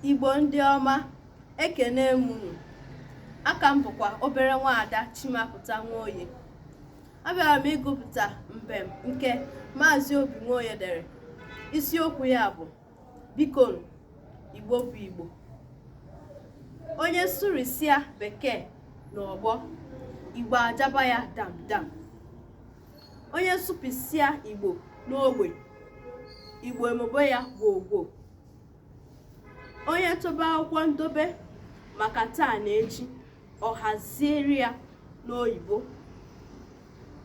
igbo ndị ọma ekene m unu aha m bụkwa obere nwaada chimapụta nwoye abịara m ịgụpụta mbem nke maazị obi nwoye dere isiokwu ya bụ biko igbo bụ igbo onye sụrisia bekee na ọgbọ igbo ajaba ya dam dam onye sụpịsịa igbo n'ogbe igbo emebọ ya gwogwo onye chọba akwụkwọ ndobe maka taa na echi o haziere ya n'oyibo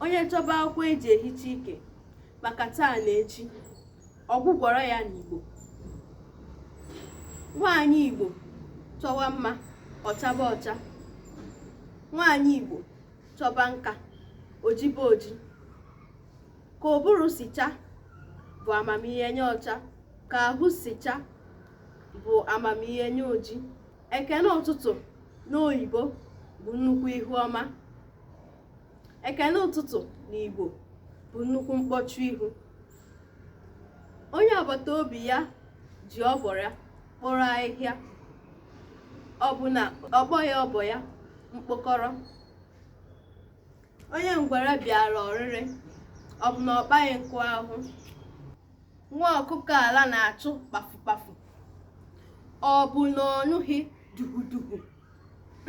onye chọba akwụkwọ eji ehicha ike maka taa na echi ọ gwọgwara ya n'igbo nwaanyị igbo chọwa mma ọ chaba ọcha nwaanyị igbo chọba nka o jibe oji ka ụbụrụ si cha bụ amamihe onye ọcha ka ahụ si cha bụ amamihe onye oji ekene ụtụtụ n'oyibo bụ nnukwu ihu ọma ekene ụtụtụ n'igbo bụ nnukwu mkpọchi ihu onye agbata obi ya ji ọba ya kporo ahịhịa ọ bụ na ọ kpọghị ọba ya mkpọkọrọ onye ngwere bịara ọrịrị ọ bụ na ọ kpaghị nkụ ahụhụ nwa ọkụkọ ala na-achụ kpafukpafu ọ bụ na ọ nụghị dugudugu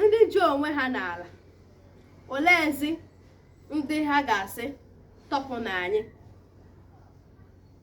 ndị ji onwe ha n'ala oleezi ndị ha ga-asị tọpụnụ anyị